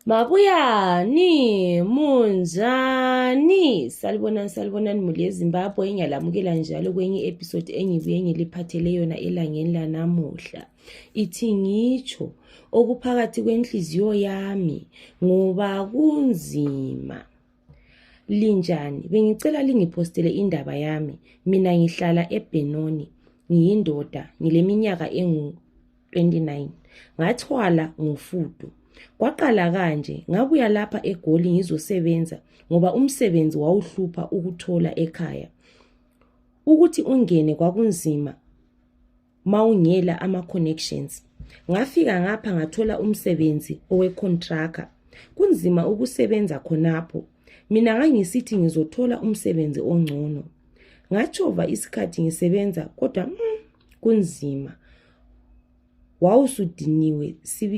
Mabuyani, munjani? Salibonani, salibonani muli yeZimbabwe engiyalamukela njalo kwenye episode engibuye ngiliphathele yona elangeni lanamuhla. Ithi ngitsho okuphakathi kwenhliziyo yami ngoba kunzima. Linjani? Bengicela lingiphostele indaba yami. Mina ngihlala eBhenoni. Ngiyindoda, ngileminyaka engu-29. Ngathwala ngofudu. Kwaqala kanje, ngabuya lapha eGoli ngizosebenza ngoba umsebenzi wawuhlupha ukuthola ekhaya. Ukuthi ungene kwakunzima mawungela ama connections ngafika ngapha ngathola umsebenzi owe contractor kunzima ukusebenza khonapho mina ngangisithi ngizothola umsebenzi ongcono ngatshova isikhathi ngisebenza kodwa mm, kunzima wawusudiniwe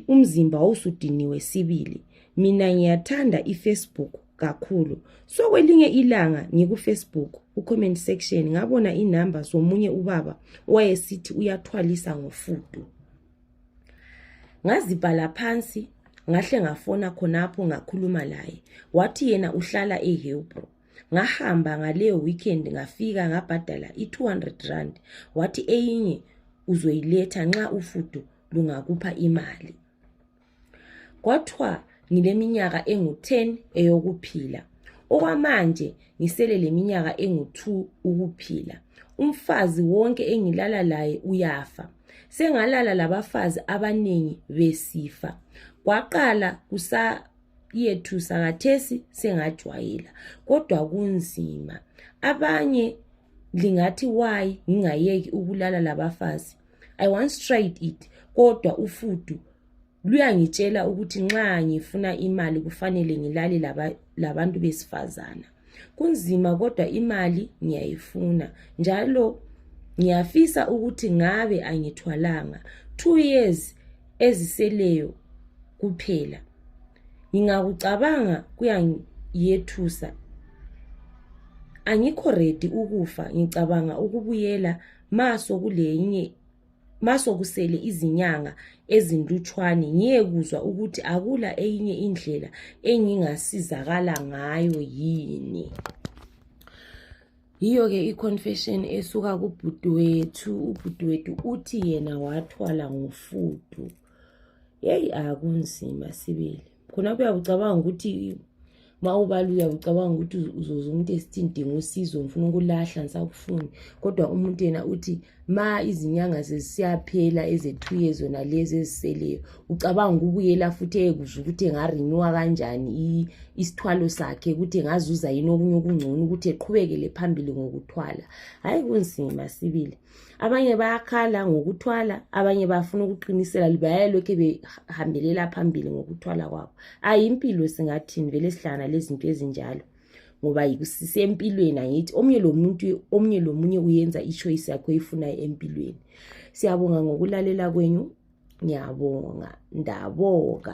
umzimba wawusudiniwe sibili mina ngiyathanda ifacebook kakhulu so kwelinye ilanga ngikufacebook kucomment section ngabona inumber zomunye ubaba owayesithi uyathwalisa ngofudu ngazibhala phansi ngahle ngafona khonapho ngakhuluma laye wathi yena uhlala ehebro ngahamba ngaleyo weekend ngafika ngabhadala i-200 rand wathi eyinye uzoyiletha nxa ufudu lungakupha imali Kwathiwa ngileminyaka engu-10 eyokuphila. Okwamanje ngisele leminyaka engu-2 ukuphila. Umfazi wonke engilala laye uyafa. Sengalala labafazi abanengi besifa. Kwaqala kusa yethusa kathesi sengajwayela kodwa kunzima abanye lingathi wayi ngingayeki ukulala labafazi i once tried it kodwa ufudu luyangitshela ukuthi nxa ngifuna imali kufanele ngilale laba, labantu besifazana kunzima kodwa imali ngiyayifuna njalo ngiyafisa ukuthi ngabe angithwalanga two years eziseleyo kuphela ngingakucabanga kuyangiyethusa angikho redi ukufa ngicabanga ukubuyela ma sokulenye ma sokusele izinyanga ezintutshwane ngiyekuzwa ukuthi akula eyinye indlela engingasizakala ngayo yini yiyo ke iconfession esuka kubhuti wethu ubhuti wethu uthi yena wathwala ngofudu yeyi akunzima sibili khona kuyakucabanga ukuthi ma ubala uyakucabanga ukuthi uzoza umuntu esithi ndinga usizo ngifuna ukulahla ngisakufuni kodwa umuntu yena uthi ma izinyanga zesiyaphela ezethuye zona lezi eziseleyo ucabanga ukubuyela futhi eyekuza ukuthi engarenyuwa kanjani isithwalo sakhe ukuthi engazuza yini okunye okungcono ukuthi eqhubekele phambili ngokuthwala hhayi kunzima sibili abanye bayakhala ngokuthwala abanye bafuna ukuqinisela bayalokhe behambelela phambili ngokuthwala kwabo ayimpilo singathini vele sihlangana lezinto ezinjalo ngoba sisempilweni angithi omnye lomuntu omnye lomunye uyenza ichoice yakho eyifunayo empilweni siyabonga ngokulalela kwenyu ngiyabonga ndaboka